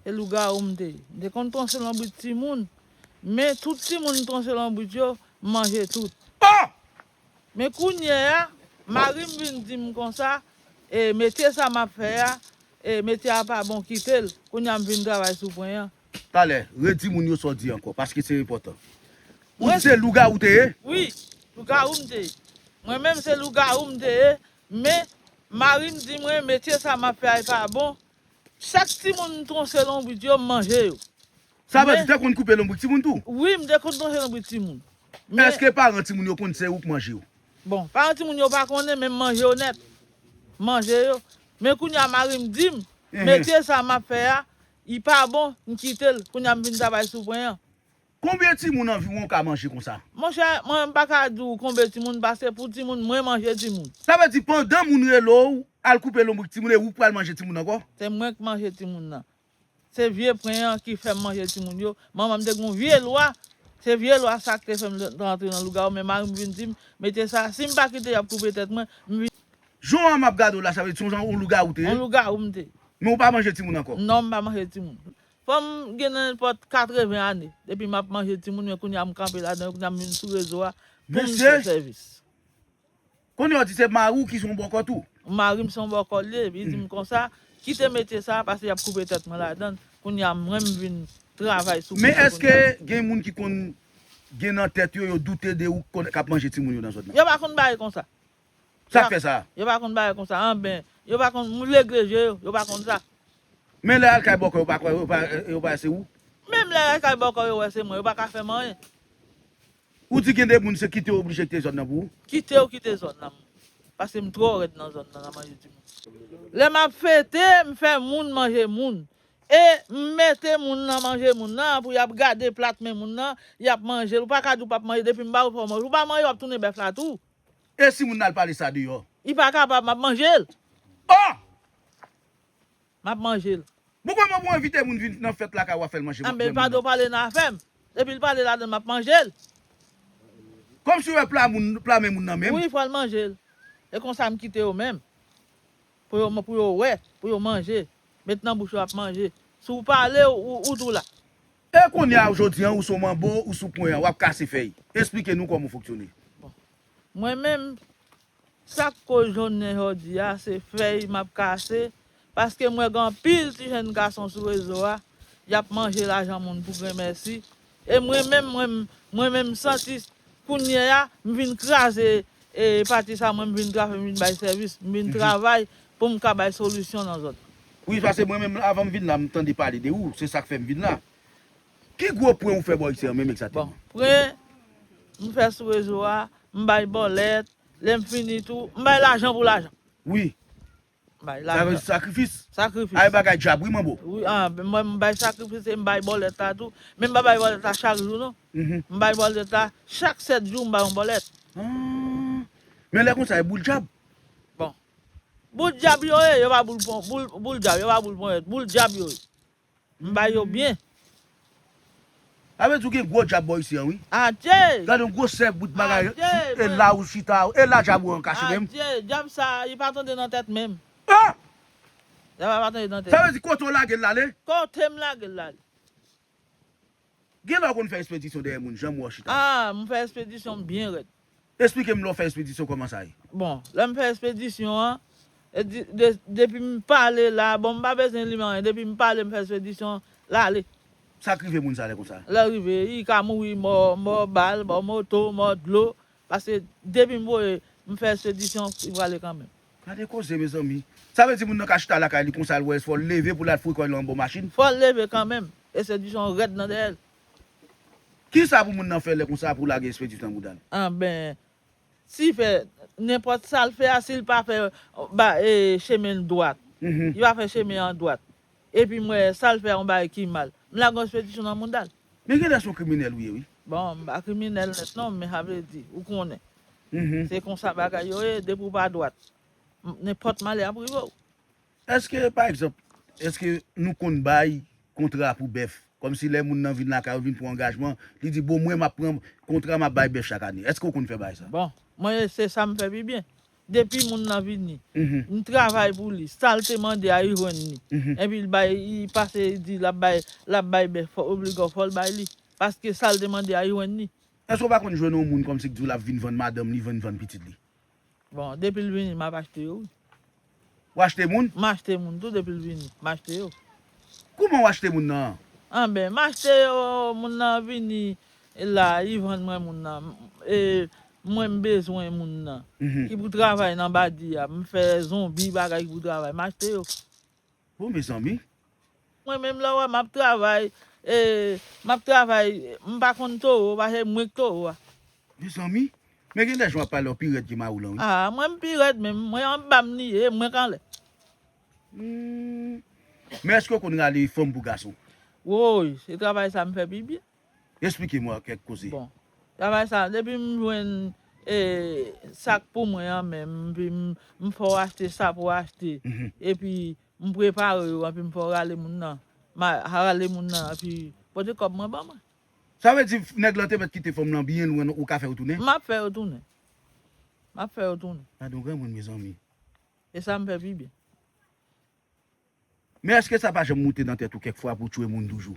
E lougawou m te ye. M te konn tronse lonbrit timoun, men tout timoun m tronse lonbrit yo, m manje tout. Oh! Men kounye a, mari m vin di m konsa, E metye sa m ap fè a, e metye a pa bon kite l. Kounye a m vin travay sou pwen an. Pale, redi moun yo sa w di ankò, paske se enpòtan. Ou di se lougawou w te ye? Wi, lougawou m te ye. Mwen menm se lougawou m te ye, men mari m di mwen metye sa m ap fè a e pa bon, Chak timoun m tronche lonbrit yo, m manje yo. Sa vle di w te konn koupe lonbrit timoun tou? Wi, m te konn tronche lonbrit timoun. Men. Eske paran timoun yo konn se ou k manje yo? Bon, paran timoun yo pa konnen men m manje yo nèt. M manje yo. Men kounye a mari m di m, metye sa m ap fè a, li pa bon, m kite l. Kounye a m vin travay sou pwen an. Konbyen timoun anviwon w ka manje konsa? Monchè, mwen m pa ka di w konbyen timoun pase pou timoun, mwen manje timoun. Sa vle di pandan moun rele w al koupe lonbrik timoun e ou pral manje timoun ankò? Se mwen k manje timoun nan. Se vye pwen an ki fè m manje timoun yo. Manman m te gen yon vye lwa, se vye lwa sa k te fè m te antre nan lougawou men mari m vin di m, mete sa, si m pa kite y ap koupe tèt mwen, m vin. Jan an m ap gade w la sa vle di se yon jan yon lougawou w te ye? Yon lougawou m te. Men ou pa manje timoun ankò? Non m pa manje timoun. Fanm gen nenpòt 80 ane depi map manje timoun men kounya m kanpe ladan yo kounya m vin sou rezo a poum fè sèvis. Kounye w di se mari w ki son bòkò tou? Mari m son bòkò l ye, li di m konsa, kite metye sa pase yap koupe tèt mwen ladann, kounya mwen m vin travay sou koup la kounya. Men eske gen moun ki konn gen nan tèt yo yo doute de ou kap manje timoun yo nan zòn nan? Yo pa konn bagay konsa. Sa fè sa. Yo pa konn bagay konsa anben. Yo pa konn moun legle je yo. Yo pa konn sa. Men lè al kay bòkò yo pa kwè yo yo pa wè se ou. Menm lè al kay bòkò yo wè se mwen yo pa ka fèm anyen. Ou di gen de moun se kite yo oblije kite zòn nan pou ou. Kite yo kite zòn nan moun. Paske m twò rèd nan zòn nan nan manje ti moun. Lè map fete m fè moun manje moun. E m mete moun nan manje moun nan pou yap gade plat men moun nan yap manjel ou pa ka di ou pap manje depi m ba ou fè ou manje ou pa manje wap tounen bèf la tou. E si moun nan al pale sa deyò? Li pa kapab, m ap manje l. Oh! M ap manje l. Bon kòman pou w envite moun vin nan fèt lakay w a fè l manje menm moun nan? Pado pale nan afè m. Depi l pale ladan l m ap manje l. Kòm si w wè pla moun, pla men moun nan menm. Wi fò l manje l. E konsa m kite yo menm. Pou yo, pou yo wè, pou yo manje. Met nan bouch yo ap manje. Si w pale ou tou la. E kounye a ou jodi an ou sou manbo ou sou pwen an wap kase fèy. Esplike nou kòman ou fonktyone. Bon. Mwen menm sak koz jounen jodi a se fèy map kase paske m wè gen anpil ti jèn gason sou rezo a yap manje lajan moun pou grenmèsi e mwen menm mwen mwen menm santi kounye a m vin kraze e pati sa mwen m vin kraze m vin bay sèvis m vin travay Poum ka bay solisyon nan zòt. Wi pase mwen menm avanm vin la m tande pale de ou se sak fèm vin la. Ki gwo pwen ou fè bò iksè an menm ekzateman? Bon pwen m fè sou rezo a m bay bòlèt lèm fini tou m bay lajan pou lajan. Wi. M bay lajan. Sa vle di sakrifis. Sakrifis. Ay bagay djab wi manbo. Wi an mwen m bay sakrifis e m bay bòlèt la tou men m pa bay bòlèt la chak jou non m bay bòlèt la chak 7 jou m bay yon bòlèt. An men lè konsa e boul djab. Bon Boul dyab yo ye, yo pa boul pon, boul, boul dyab, yo pa boul ponyèt, boul dyab yo ye. M bay yo byen. Sa vle di ou gen gwo dyab bò isi an wi. Adje! Gade yon gwosè bout bagay. Adje! E la ou chita, e la dyab ou an kache menm. Adje! Dyab sa a, li pa tande nan tèt menm. Ah! Dyab la pa tande nan tèt. Sa vle di kote ou lage l l ale? Kote m lage l l ale. Gen lè w konn fè espedisyon dèyè moun janm wè w chita. Ah m fè espedisyon m byen rèd. Esplike m lè w fè espedisyon kòman sa ye. Bon lè m fè espedisyon an depi m pale la bon m pa bezwen li men anyen depi m pale m fè espedisyon l ale. Sa k rive moun sa lè konsa. Lè rive li ka mouri mò mò bal mò moto mò dlo paske depi m voye m fè espedisyon li prale kanmenm. Gade koze mezanmi. Sa vle di moun nan ka chita lakay li konsa l wè fò l leve pou l al fouye kò l anbo machin? Fò l leve kanmenm. Espedisyon rèd nan dèyè l. Kisa pou moun nan fè lè konsa pou lage espedisyon nan bouda l? Anben, si fè nenpòt sa l fè a si l pa fè ba chemen l dwat. Li pa fè chemen an dwat. Epi m wè sa l fè yon bagay ki mal. M lage yon spedition nan mouda l. Men gen lè se yon kriminèl ou ye wi. Bon m pa kriminèl nèt non men sa vle di ou konnen. Se konsa bagay yo ye depi w pa dwat nenpòt malè ap rive w. Eske pa egzanp eske nou konn bay kontra pou bèf kòmsi lè moun nan vin lakay ou vin pran angajman li di bon mwen m ap pran kontra m ap bay bèf chak ane. Eske ou konn fè bagay sa? Bon mwen se sa m fè pi byen. Depi moun nan vini, m travay pou li, sa l te mande a, li jwenn li. Epi l bay, li pase li di l ap bay, l ap bay bèf, fò obliga w fò l bay li. Paske sa l te mande a, li jwenn li. Èske w pa konn jwenn yon moun kòmsi k di w l ap vin vann madanm li, vin vann pitit li? Bon, depi l vini, m ap achte yo wi. Ou achte moun? M achte moun tou depi l vini. M achte yo. Kouman ou achte moun nan? Anben, m achte yo, moun nan vini la, li vann mwen moun nan. E mwen m bezwen moun nan ki pou travay nan badi a. M fè zonbi bagay ki pou travay. M achte yo. Bon mezanmi! Mwen menm lè w wè m ap travay, m ap travay, m pa konn towo pase mwen k towo a. Mezanmi, men gen de jan w ap pale w pi rèd ke mawolan wi. Aa mwen m pi rèd menm, mwen anba m li ye e mwen k anlè. Humm men eske w konn rale fanm pou gason? Woy, se travay sa m fè pi byen. Esplike mwen kèk koze. Bon, travay sa depi m jwenn sak pou mwen an menm, m fè w achte sa pou w achte epi M prepare yo epi m fè w rale moun nan. M a rale moun nan epi pote kòb mwen ban mwen. Sa vle di nèg lan te mèt kite fanm lan byen lwen ou ka fè yo tounen? M ap fè yo tounen. M ap fè yo tounen. Gadon granmoun mezanmi. E sa m fè pi byen. Men èske sa pa janm moute nan tèt ou kèk fwa pou w tchwe moun toujou?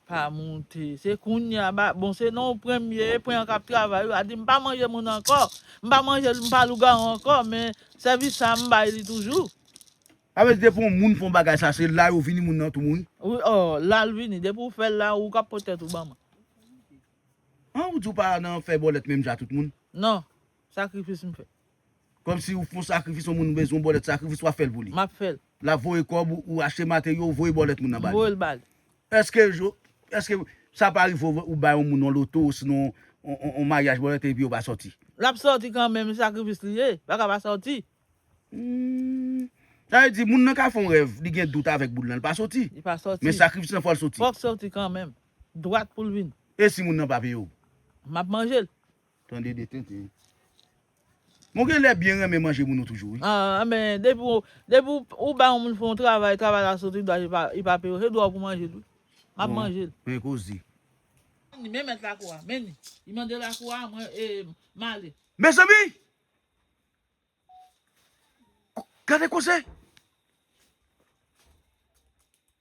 Pa moute. Se kounya ba bon se nan premye pwen an kap travay wi a di m pa manje moun ankò m pa manje m pa lougawou ankò men sèvis sa m bay li toujou. Sa vle di depi yon moun fon bagay sa se la yo vini moun nan tou mouri? Wi oo la l vini depi ou fè l la ou kap pot tèt ou ban mwen. An ou di ou pa nan fè bòlèt menm jan a tout moun? Non. Sakrifis m fè. Komsi ou fon sakrifis yon moun bezwen yon bòlèt sakrifis wap fèl pou li. Map fèl. Lap voye kòb ou ou achte materyo ou voye bòlèt moun nan bali. M voyel bali. Eske yo eske sa pa rive ou bay yon moun yon loto osinon yon maryaj bòlèt epi yo pa sòti. Lap sòti kanmenm e sakrifis li ye pa ka pa sòti. Humm sa vle di moun nan ka fè yon rèv li gen dout avèk boul lan li pa sòti. Li pa sòti. Men sakrifis lan fòl sòti. Fòk sòti kanmenm. Dwat poul vini. Esi moun nan pa peye ou. Map manjel. Tande de tenten. Mwen genlè byen renmen manje moun ou toujou wi. Ahh men depi depi ou bay yon moun fè yon travay, travay la soti dwa li pa peye w, se dwa w pou manjel wi. Map manjel. Bon men koze. Men mèt lakou a, men li. Li mande lakou a, mwen e m ale. Mezanmi! Gade koze!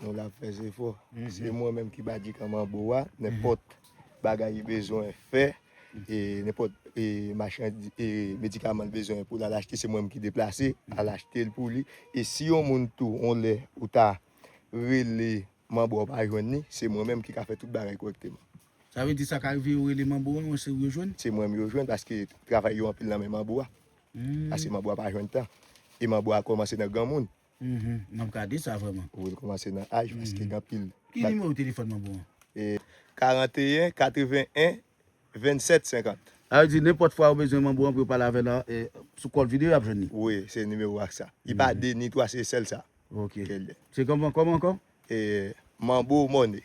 Nou la fè jefò. Se mwen menm ki Badi Kan Manbo a. Nenpòt bagay li bezwen fè, nenpòt medikaman li bezwen pou l al achte, se mwen menm ki deplase al achte l pou li. E si yon moun tou, yon lè ou ta rele Manbo a ou pa jwenn li, se mwen menm ki ka fè tout bagay kòrèkteman. Sa vle di sa ka rive yo rele Manbo a men se ou yo jwenn? Se mwen menm yo jwenn paske travay yo anpil nan men Manbo a. Paske Manbo a pa jwenn tan. E Manbo a kòmanse nan granmoun. Uhmm map gade sa vreman. Wi li komanse nan aj paske gen anpil. Ki nimewo telefòn mwen bon an? 41 81 27 50. Sa vle di nenpòt fwa ou bezwen manbo an pou yo pale avè la sou call video yap jwenn li. Wi se nimewo ak sa. Li pa 2 ni 3 se sèl sa. Ok. Se kòman ankò? Manbo money.